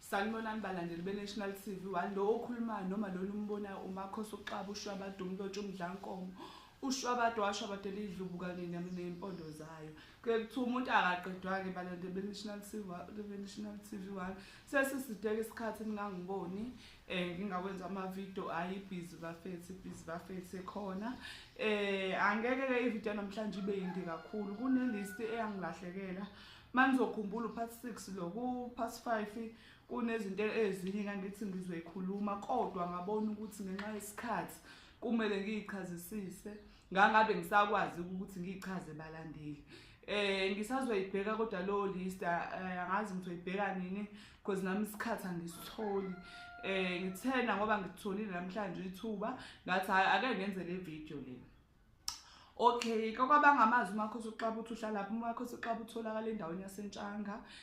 sanibonani balandeli be-national t v one lo okhulumayo noma lona umbonayo umakhosi uxaba ushwabada umlotshi umdlankomo ushwabada washwabada elidlubu kanye nempondo zayo kuye kuthiwa umuntu akaqedwa-ke balandeli be-national t v one sesisiteke isikhathi ningangiboni eh ngingakwenza ama video ayi busy bafethu busy bafethu ekhona eh angeke ke i video namhlanje ibe yindi kakhulu kune list eyangilahlekela manizokhumbula upart 6 lo ku part 5 kunezinto ezinye ngangithi ngizoyikhuluma kodwa ngabona ukuthi ngenxa yesikhathi kumele ngiyichazisise ngangabe ngisakwazi ukuthi ngichaze balandeli eh ngisazoyibheka kodwa lo list eh, angazi ngizoyibheka nini because nami isikhathi angisitholi eh ngithena ngoba ngitholile namhlanje ithuba ngathi ake ngenze le video lena Okay, kwakwabangamazi umakhosi uxaba uthi uhlalaphi umakhosi uxaba utholakala endaweni yasentshanga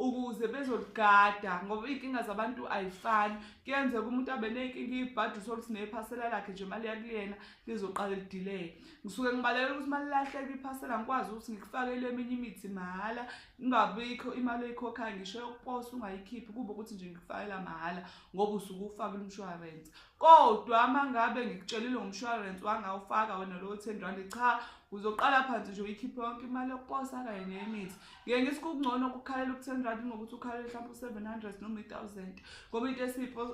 ukuze bezoligada ngoba iy'nkinga zabantu ayifani kuyenzeka umuntu abe ney'nkinga ibhadi usoluthi nephasela lakhe nje imali yakuliyena lizoqala lidileye ngisuke ngibalekela ukuthi uma lilahleka iphasela ngikwazi ukuthi ngikufakele eminye imithi mahhala ingabikho imali oyikhokhayo ngisho yokuposa ungayikhiphi kube ukuthi nje ngikufakela mahhala ngoba usuke ufakile umshwarensi Kodwa mangabe ngikutshelile ngomshwarensi wangawufaka wena lowo 10 rand cha uzoqala phansi nje uyikhiphe yonke imali yokuposa kanye neyemithi ngeke ngithi kungcono ukukhalela uku-10 rand ngokuthi ukhalele mhlawumbe u-700 noma i-1000 ngoba into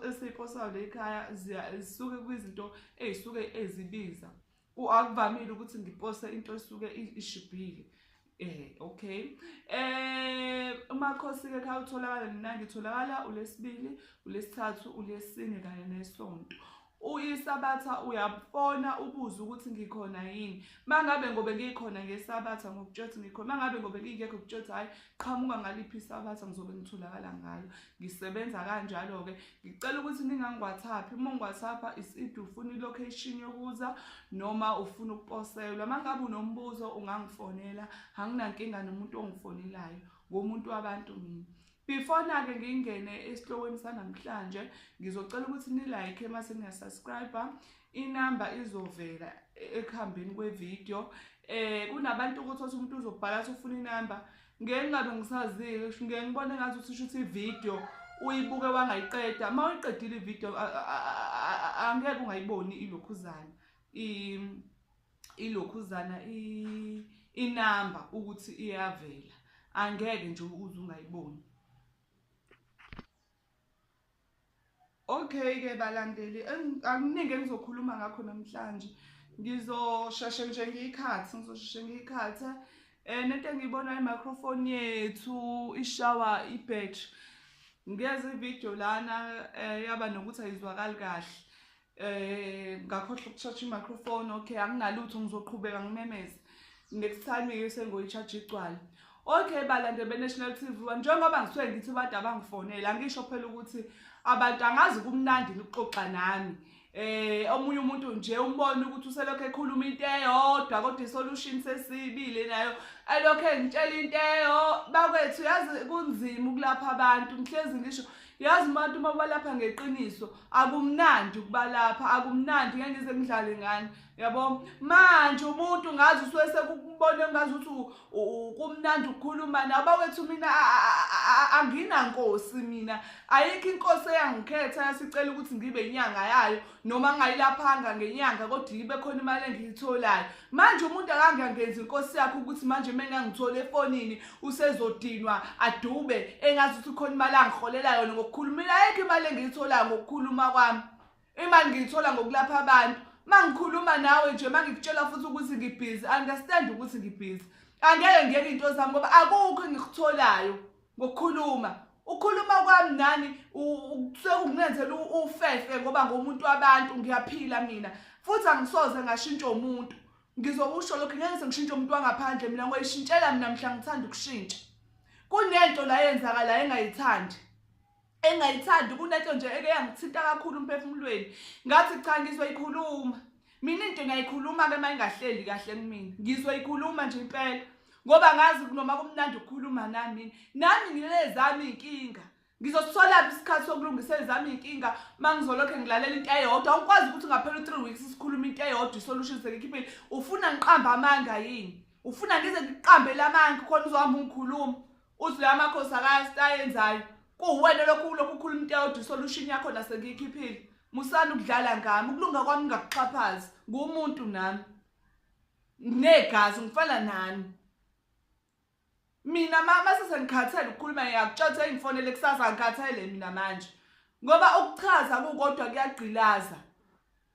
esiyiposayo le ekhaya zisuke kwizinto ey'suke ezibiza Akuvamile ukuthi ngiposte into esuke ishibhile. Eh okay. Eh umakhosi ke kha utholakala mina ngitholakala ulesibili, ulesithathu, ulesine kanye nesonto. uyisabatha uyabona ubuze ukuthi ngikhona yini mangabe ngobe ngikhona ngesabatha ngokutshothi ngikhona mangabe ngobe ngingekho kutshothi hayi qhamuka ngaliphi isabatha ngizobe ngitholakala ngalo ngisebenza kanjalo-ke ngicela ukuthi ningangiwhatsappi uma ungiwhatsappa iside ufuna ilocation yokuza noma ufuna ukuposelwa uma ngabe unombuzo ungangifonela anginankinga nomuntu ongifonelayo ngomuntu wabantu mina before nake ngingene esihlokweni sanamhlanje ngizocela ukuthi nilike mase niyasubscribe inamba izovela ekuhambeni kwevideo eh kunabantu ukuthi othi umuntu uzobhala athi ufuna inamba ngeke ngabe ngisazile ngeke ngibone ngathi uthi shuthi ivideo uyibuke wangayiqeda uma uyiqedile ivideo angeke ungayiboni ilokhuzana ilokhuzana inamba ukuthi iyavela angeke nje uze ungayiboni Okay ke balandeli anginingi engizokhuluma ngakho namhlanje ngizosheshe nje ngiyikhathi ngizosheshe ngiyikhathi eh nento engiyibona imicrophone yethu ishawa ibattery ngeze video lana eh, yaba nokuthi ayizwakali kahle eh ngakhohle ukuthatha i-microphone okay anginalutho ngizoqhubeka ngimemeze next time ke sengoyicharge igcwala okay balande be-national t v njengoba ngisuke ngithi abantu abangifonele angisho phela ukuthi abantu angazi kumnandi nikuxoxa nami eh omunye umuntu nje umbona ukuthi uselokho ekhuluma into eyodwa kodwa isolution sesibile nayo elokho engitshela into eyo bakwethu yazi kunzima ukulapha abantu ngihlezi ngisho yazi umuntu uma ubalapha ngeqiniso akumnandi ukubalapha akumnandi ngeke ngize ngidlale ngani yabo manje umuntu ngazi usuke sekukubona ngazi ukuthi kumnandi ukukhuluma nawe bakwethu mina anginankosi mina ayikho inkosi eyangikhetha yasicela ukuthi ngibe inyanga yayo noma ngayilaphanga ngenyanga kodwa ibe khona imali engiyitholayo manje umuntu akangangenzi inkosi yakhe ukuthi manje uma engangithole efonini usezodinwa adube engazi ukuthi khona imali angiholela yona ngokukhuluma ayekho imali engiyitholayo ngokukhuluma kwami imali ngiyithola ngokulapha abantu uma ngikhuluma nawe nje uma ngikutshela futhi ukuthi ngibhizi understand ukuthi ngibhizi angeke ngiyeke into zami ngoba akukho engikutholayo ngokukhuluma ukhuluma kwami nani sekunginenzela ufefe ngoba ngomuntu wabantu ngiyaphila mina futhi angisoze ngashintsha umuntu ngizokusho lokhu ngeke sengishintshe umuntu wangaphandle mina ngoyishintshela mina mhla ngithanda ukushintsha kunento la yenzakalayo engayithandi engayithandi kunento nje eke yangithinta kakhulu umphefumulweni ngathi cha ngizoyikhuluma mina into ngiyayikhuluma-ke uma ingahleli kahle kumina ngizoyikhuluma nje impela ngoba ngazi noma kumnandi ukukhuluma nami nami nginezami iy'nkinga ngizositholaphi isikhathi sokulungisa ezami iy'nkinga uma ngizolokhe ngilalela into eyodwa awukwazi ukuthi ngaphela u-three weeks sikhuluma into eyodwa isolution sekikhiphile ufuna ngiqambe amanga yini ufuna ngize ngiqambele amanga khona uzohamba ungikhuluma Uzwe amakhosi akastayenzayo. Kuwena lokhu lokhu ukhuluma into yodwa solution yakho nasekikhiphile. Musani ukudlala ngami ukulunga kwami ngakuxhaphazi ngumuntu nami. Nginegazi ngifana nani. Mina mama sesengikhathele ukukhuluma ngiyakutshatha engifonele kusasa ngikhathele mina manje. Ngoba ukuchaza kukodwa kuyagqilaza.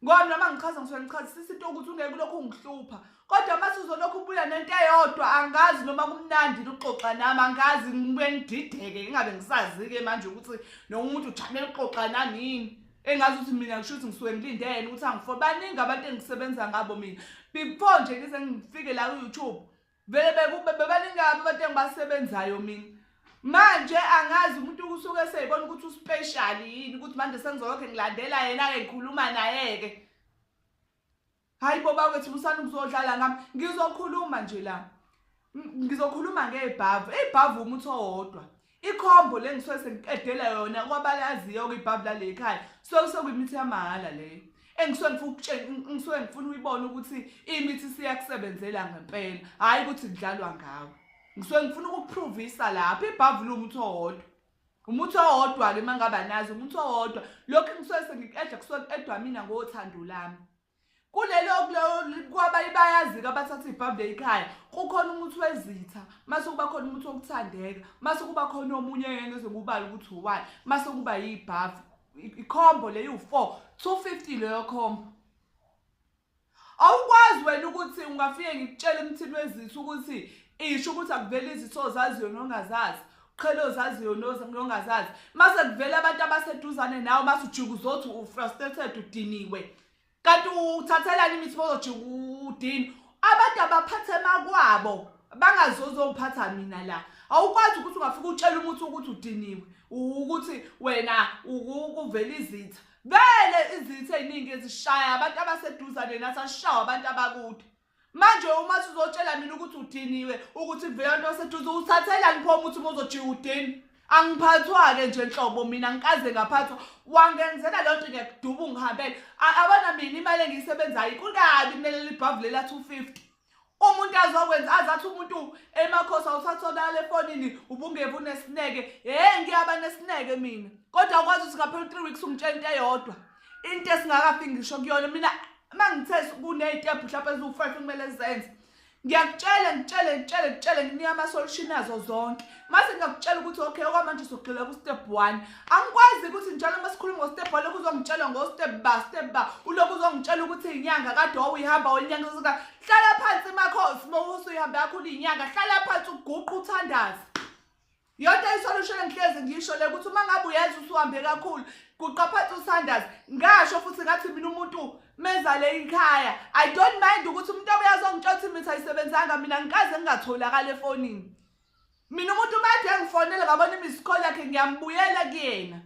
Ngoba noma ngichaza ngisuke ngichazisisa into ukuthi ungeke ulokhu ungihlupha. Kodwa mase uzolokhu ubuya nento eyodwa angazi noma kumnandi ukuxoxa nami angazi ngibuye ngidideke ingabe ngisazi-ke manje ukuthi noma umuntu ujamele ukuxoxa nami yini. Engazi ukuthi mina ngisho ukuthi ngisuke ngilindele ukuthi angifo baningi abantu engisebenza ngabo mina. Before nje ngize ngifike la ku-YouTube vele bebaningi kabi abantu engibasebenzayo mina manje angazi umuntu usuke eseyibona ukuthi uspecial yini ukuthi manje sengizolokhe ngilandela yena-ke ngikhuluma naye-ke hhayi bo bakwethu busani ukuzodlala ngami ngizokhuluma nje la ngizokhuluma ngebhavu ibhavu umuthi owodwa ikhombo le ngisuke sengiqedela yona kwabalaziyo-ke ibhavu lale ekhaya so sekuyimithi yamahhala leyo engisuke ngifuna ukutshela ngisuke ngifuna uyibone ukuthi imithi siyakusebenzela ngempela hhayi ukuthi kudlalwa ngawo ngisuke ngifuna ukukuphrovisa lapho ibhavu lumuthi owodwa umuthi owodwa-ke uma ngaba nazi umuthi owodwa lokhu engisuke sengiqeda kusuke kuqedwa mina ngothando lami kulelo kwaba ibayazi-ke abathatha ibhabhule ikhaya kukhona umuthi wezitha mase kuba khona umuthi wokuthandeka mase kuba khona omunye yena ezokubala ukuthi uwani mase kuba yibhavu ikhombo le yiwu-four two fifty leyo khombo awukwazi wena ukuthi ungafike ngikutshele umthini wezitha ukuthi isho ukuthi akuvele izitho zazi yona ongazazi qhela ozaziyo nongazazi mase kuvela abantu abaseduzane nawe mase ujika uzothi ufrustrated udiniwe kanti uthathelani imithi bozojika udini abantu abaphathe makwabo bangazozophatha mina la awukwazi ukuthi ungafika utshela umuntu ukuthi udiniwe ukuthi wena ukuvela izitha vele izitha eziningi ezishaya abantu abaseduzane nathi asishawa abantu abakude manje uma sizotshela mina ukuthi udiniwe ukuthi vele nto seduze uthathelani pho umuthi uma uzojika udini angiphathwa-ke nje nhlobo mina ngikaze ngaphathwa wangenzela loo nto ngiyakuduba ungihambele abona mina imali engiyisebenzayo kukabi kumele libhavu lela two fifty umuntu azokwenza azathi umuntu emakhosi awuthathonala efonini ubungeve unesineke hhe ngiyaba nesineke mina kodwa ukwazi ukuthi ngaphela u-three weeks ungitshela into eyodwa into esingakafi ngisho kuyona mina uma ngithe kuney'tebhu mhlawumpe eziwu-five kumele zenze ngiyakutshela ngitshele ngitshele ngitshele nginika ama-solution azo zonke mase ngingakutshela ukuthi okay okwamanje sogxila ku-step one angikwazi ukuthi njalo uma sikhuluma ngo-step one lokhu uzongitshela ngo-step ba step ba ulokhu uzongitshela ukuthi inyanga kade wawuyihamba wenyanga usuka hlala phansi makhosi uma usuyihambe yakho uliyinyanga hlala phansi uguqa uthandaze Yonke isolution engihlezi ngisho le ukuthi uma ngabe uyenza usuhambe kakhulu kuqaphatha uSanders ngasho futhi ngathi mina umuntu mezale ikhaya I don't mind ukuthi umuntu obuya zongitshela ukuthi mina ayisebenzanga mina ngikaze ngingatholakala efonini mina umuntu umathe ngifonele ngabona imisikhola yakhe ngiyambuyela kuyena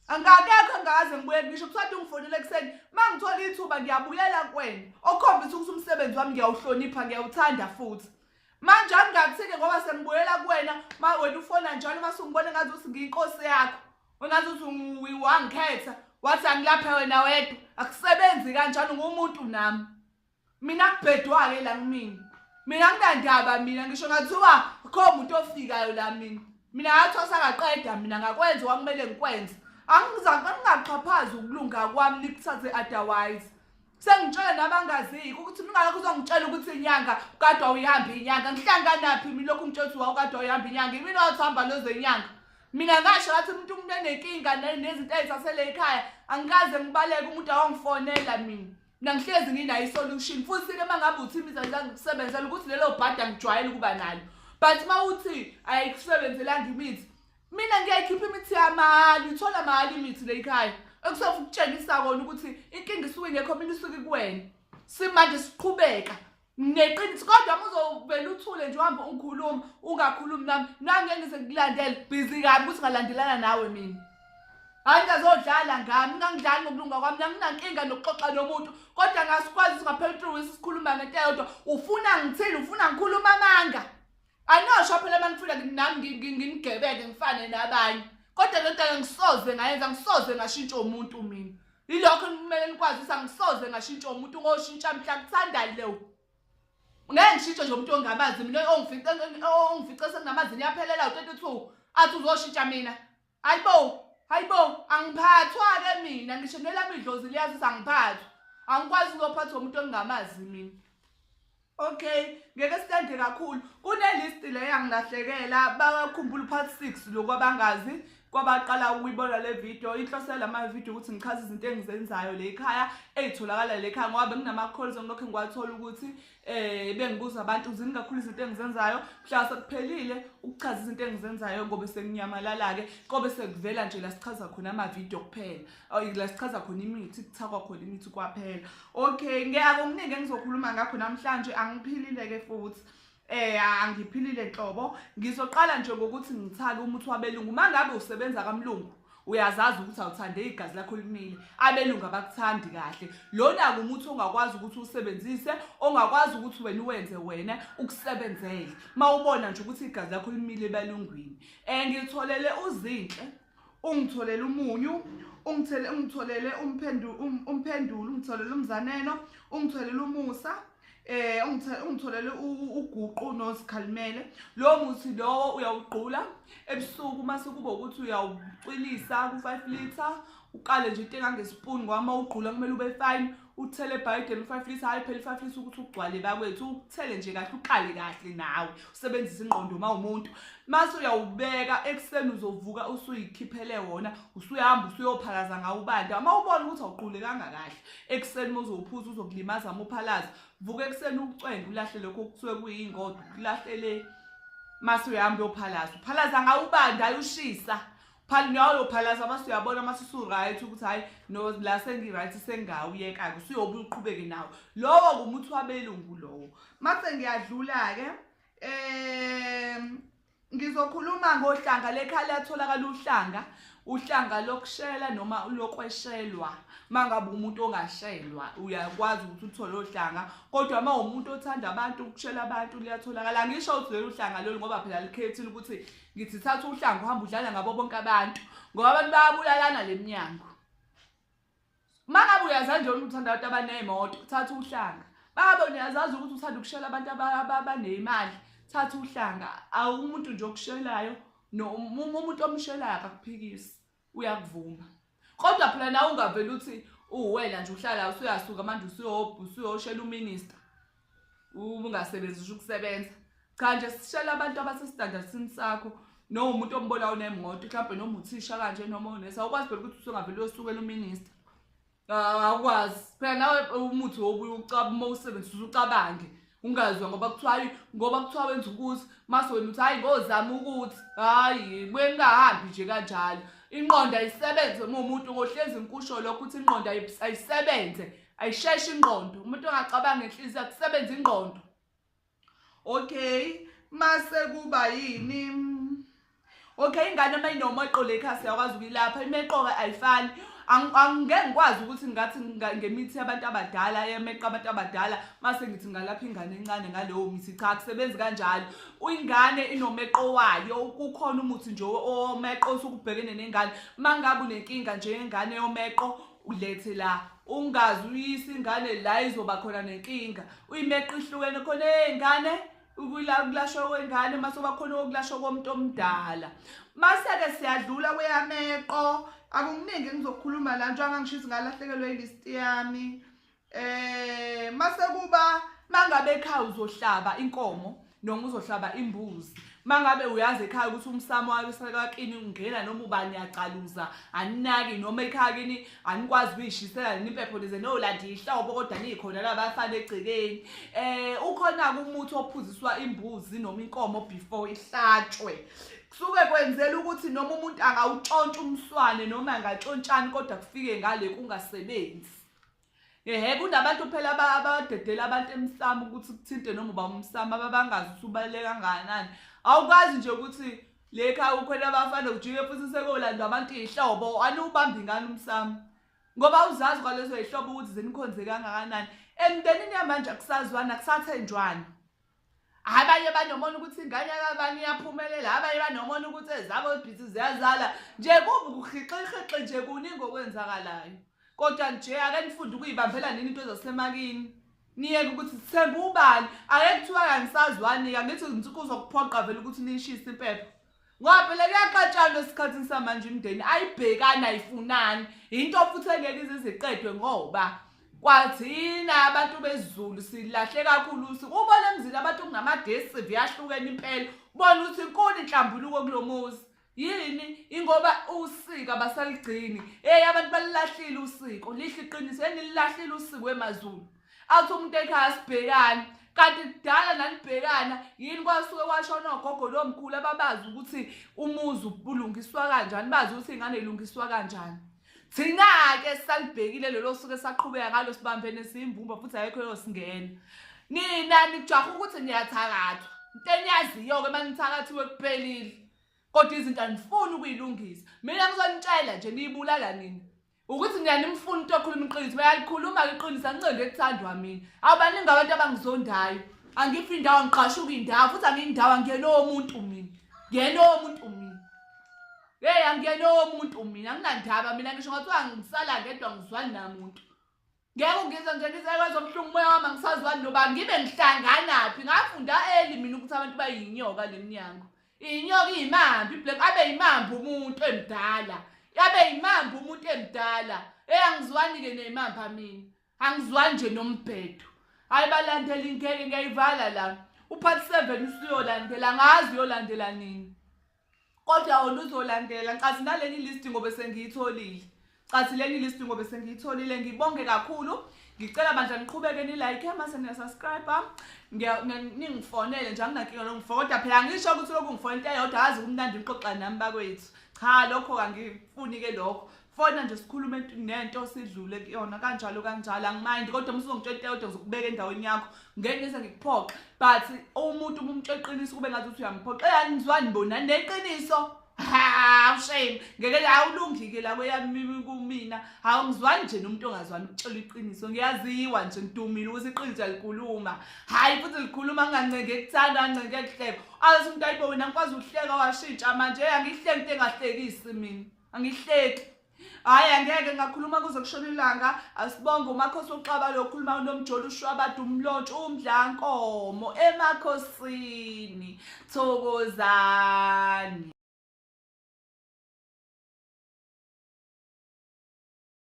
angakekho ngaze ngibuye ngisho kusathi ungifonele ekuseni mangithola ithuba ngiyabuyela kwena okhombisa ukuthi umsebenzi wami ngiyawuhlonipha ngiyawuthanda futhi manje angingakuthike ngoba sengibuyela kuwena ma wena ufona njalo uma sungibona ngathi uthi ngiyinkosi yakho wengathi uthi wangikhetha wathi angilaphe wena wedwa akusebenzi kanjalo ngumuntu nami mina kubhedwa-ke la kumina mina nginandaba mina ngisho ngathiwa kho muntu ofikayo la mina mina ngathi wasakaqeda mina ngakwenza owakumele ngikwenze angingaxhaphazi ukulunga kwami nikuthathe otherwise sengitshele nabangaziyo ukuthi mingakho uzongitshela ukuthi inyanga kade wawuyihamba inyanga ngihlanganaphi mina lokhu ngitshela ukuthi wawukade wawuyihamba inyanga imina wathihamba lezenyanga mina ngasho ngathi umuntu umuntu enenkinga nezinto ezisasele ekhaya angikaze ngibaleke umuntu awangifonela mina nangihlezi nginayo isolution futhi ke mangabe uthi imiza zangikusebenzela ukuthi lelo bhadi angijwayele ukuba nalo but uma uthi ayikusebenzelanga imithi mina ngiyayikhipha imithi yamali uthola mali imithi leyikhaya ekusofa ukutshengisa kona ukuthi inkinga isuke ingekho mina isuke kuwena simanje siqhubeka neqiniso kodwa muzovela uthule nje uhambe ungikhuluma ungakhulumi nami nangeke ngize ngikulandele busy kabi ukuthi ngalandelana nawe mina hayi ngazodlala ngami ngangidlali ngokulunga kwami nanginankinga nokuxoxa nomuntu kodwa ngasikwazi singaphela utrue sikhuluma ngento eyodwa ufuna ngithini ufuna ngikhuluma amanga Anosho phela manifuna nami nginigebele ngifane nabanye. Kodwa lento angisoze ngayenza ngisoze ngashintsha umuntu mina. Yilokho kumele nikwazisa ngisoze ngashintsha umuntu ngoshintsha mhla kuthandani leyo. Ngeke ngishintshe nje umuntu ongamazi mina ongifice ongifice senginamazi niyaphelela u22 athi uzoshintsha mina. Hayibo, hayibo, angiphathwa ke mina ngisho nelami idlozi liyazi sangiphathwa. Angikwazi ukuphathwa umuntu ongamazi mina. Okay, ngeke sithande kakhulu. Kune list le yangilahlekela bakhumbula part 6 lokwabangazi kwabaqala ukuyibona le video inhloso yalama video ukuthi ngichaze izinto engizenzayo le ekhaya ezitholakala le ekhaya ngoba benginama calls ngilokho ngiwathola ukuthi eh bengibuza abantu zini kakhulu izinto engizenzayo mhla sekuphelile ukuchaza izinto engizenzayo ngobe senginyamalala ke kobe sekuvela nje la sichaza khona ama video kuphela ayi la sichaza khona imithi kuthakwa khona imithi kwaphela okay ngiyake umningi engizokhuluma ngakho namhlanje angiphilile ke futhi eh angiphilile nhlobo ngizoqala nje ngokuthi ngithake umuthi wabelungu mangabe usebenza kamlungu uyazazi ukuthi awuthande igazi lakho limile abelungu abakuthandi kahle lona ngumuthi ongakwazi ukuthi usebenzise ongakwazi ukuthi wena uwenze wena ukusebenzele uma ubona nje ukuthi igazi lakho limile ebelungwini um eh, ngitholele uzinhle ungitholele umunyu ungitholele umphendulo um, ungitholele umzaneno ungitholele umusa eh ungitholele uguqu nosikhalimele lo muthi lowo uyawugqula ebusuku uma sekuba ukuthi uyawucwilisa ku-five litre uqale nje into engangesipuni ngoba uma ugqula kumele ube fine uthele ebhayideni u-five litre hhayi phela u-five litre ukuthi ugcwale bakwethu uthele nje kahle uqale kahle nawe usebenzise ingqondo uma umuntu mase uyawubeka ekuseni uzovuka usuyikhiphele wona usuyahamba usuyophalaza ngawo ubanda uma ubona ukuthi awuqulekanga kahle ekuseni uma uzophuza uzokulimaza muphalaza vuka ekuseni ukucwenga ulahle lokho okusuke kuyingodo kulahle le mase uyahamba uyophalaza uphalaza ngawubanda ayushisa phali noyophalaza mase uyabona mase usu-right ukuthi hhayi no la sengi-right sengawuyeka-ke usuyobe uqhubeke nawo lowo ngumuthi wabelungu lowo mase ngiyadlula-ke um Ngizokhuluma ngohlanga lekhala yatholakala uhlanga, uhlanga lokushela noma lokweshelwa. Mangabe umuntu ongashelwa uyakwazi ukuthi uthole ohlanga, kodwa uma umuntu othanda abantu ukushela abantu liyatholakala. Angisho ukuthi lelo uhlanga lolu ngoba phela likhethile ukuthi ngithi thatha uhlanga uhamba udlala ngabo bonke abantu ngoba abantu bayabulalana lemnyango. uma ngabe uyazazi nje uthanda abantu abaney'moto thatha uhlanga baba niyazazi ukuthi uthanda ukushela abantu abaneyimali thatha uhlanga awumuntu nje okushelayo umuntu omshelayo akakuphikisi uyakuvuma kodwa phela nawe ungavele uthi uwena nje uhlala usuyasuka manje usuyoshela uminister ungasebenzi usho ukusebenza cha nje sishela abantu abasestandardini sakho noma umuntu ombona unemoto mhlawumbe noma uthisha kanje noma unesi awukwazi phela ukuthi usungavele uyosukela uminista ah, awukwazi phela nawe umuthi wobuye ucaba uma usebenzisa ucabange ungazwa ngoba kuthiwa hayi ngoba kuthiwa wenza ukuthi mase wena uthi hayi ngozama ukuthi hayi buye ningahambi nje kanjalo inqondo ayisebenze uma umuntu ngohlezi nkusho lokho ukuthi inqondo ayisebenze ayisheshi ingqondo umuntu ongacabanga inhliziyo akusebenza ingqondo okay mase kuba yini okay ingane uma inoma iqole ikhasi yakwazi ukuyilapha imeqoka ayifani angeke ngikwazi ukuthi ngathi ngemithi yabantu abadala yemeqa abantu abadala mase ngithi ngalapha ingane encane ngaleyo mithi cha kusebenzi kanjalo ingane inomeqo wayo kukhona umuthi nje omeqo osukubhekene nengane mangabe unenkinga nje yengane yomeqo ulethe la ungazi uyisa ingane la izoba khona nenkinga uyimeqa ihlukene khona ey'ngane ukulashwa kwengane mase uba khona okulashwa komuntu omdala mase-ke siyadlula kweyameqo akukuningi engizokhuluma la njengoba ngangishisa ngalahlekelwe ilist yami Eh mase kuba mangabe ekhaya uzohlaba inkomo noma uzohlaba imbuzi mangabe uyazi ekhaya ukuthi umsamo wasekwakini ungena noma ubani yaqaluza aninaki noma ekhaya kini anikwazi ukuyishisela nini impepho nize nolanda ihlobo kodwa niyikhona labafana egcekeni eh ukhona umuthi ophuziswa imbuzi noma inkomo before ihlatshwe kusuke kwenzela ukuthi noma umuntu angawutshontsha umswane noma angatshontshani kodwa kufike ngale kungasebenzi Ehhe kunabantu phela abadedela abantu emsamo ukuthi kuthinte noma uba umsamo ababangazi ukuthi ubaluleke kangakanani awukwazi nje ukuthi le khaya ukhona abafana ujike futhi sekolandwa abantu iy'hlobo aniwubambi ngani umsamo ngoba uzazi kwalezo y'hlobo ukuthi zinikhonze kangakanani emndenini yamanje akusazwani akusathenjwani abanye banomona ukuthi ingane yakabani iyaphumelela abanye banomona ukuthi ezabo ibhizi ziyazala nje kubi kuhixixixi nje kuningi okwenzakalayo kodwa nje ake nifunde ukuyibambela nini into zasemakini niyeke ukuthi sithembe ubani ake kuthiwa kanisazwani-ke angithi ngithi kuzokuphoqa vele ukuthi niyishise impepho ngoba phela kuyaxatshanwa esikhathini samanje imndeni ayibhekani ayifunani yinto futhi engeke iziziqedwe ngoba kwathina abantu bezulu silahle kakhulu ubona emzini abantu kunamagesi siyahlukene impela bona ukuthi inkulu inhlambuluko kulomuzi yini ingoba usika basaligcini hey abantu balilahlile usiko lihle iqiniso enililahlile usiko emazulu athi umuntu ekhaya sibhekane kanti kudala nanibhekana yini kwasuke kwashona ogogo lomkhulu ababazi ukuthi umuzi ulungiswa kanjani bazi ukuthi ingane ilungiswa kanjani thina-ke salibhekile lelo suke saqhubeka ngalo sibambene siyimbumba futhi ayekho yosingena nina nijaha ukuthi niyathakathwa into eniyaziyo-ke uma nithakathiwe kuphelile kodwa izinto anifuni ukuyilungisa mina ngizonitshela nje niyibulala nina ukuthi niyanimfuna into okhuluma iqiniso bayalikhuluma iqiniso angiqondi ekuthandwa mina awu baningi abantu abangizondayo angiphi indawo ngiqashuka indawo futhi angiyindawo angiyena owomuntu mina ngiyena owomuntu mina yeyi angiyena owomuntu mina anginandaba mina ngisho ngathiwa ngisala ngedwa ngizwani namuntu ngeke ungizwe nje ngizelwe zobuhlungu umoya wami angisazwani noba ngibe ngihlanganaphi ngafunda eli mina ukuthi abantu bayinyoka le mnyango inyoka iyimambi iblack abe yimambi umuntu emdala abe yimambi umuntu emdala eyi angizwani-ke neyimambi amini angizwani nje nombhedo hhayi balandela ingeke ngiyayivala la uphathi seven usuyolandela ngazi uyolandela nini kodwa oluzolandela nkathi naleli list ngobe sengiyitholile cathi leli list ngobe sengiyitholile ngibonge kakhulu ngicela bandla niqhubeke nilike mase niyasubscribe ningifonele nje anginankinga longifo kodwa phela ngisho ukuthi lokhu ngifona into eyodwa azi kumnandi nixoxa nami bakwethu cha lokho kangifuni-ke lokho fona nje sikhulume ngento sidlule kuyona kanjalo kanjalo angimind kodwa uma uzongitshela into kodwa ngizokubeka endaweni yakho ngeke ngize ngikuphoxe but umuntu uma umtshela iqiniso kube ngathi uthi uyamphoxa yani ngizwani bona neqiniso hawu shame ngeke awulungike la kweyami kumina hawu ngizwani nje nomuntu ongazwani ukutshela iqiniso ngiyaziwa nje ngidumile ukuthi iqiniso likhuluma hayi futhi likhuluma ngancenga ekuthanda ngancenga ekuhleka azi umuntu ayibona ngikwazi ukuhleka washintsha manje angihleki into engahlekisi mina angihleki hhayi angeke ngakhuluma kuze kushona ilanga asibonge umakhosi uxaba lokhuluma unomjolo ushwabada umlontshe umdlankomo emakhosini thokozani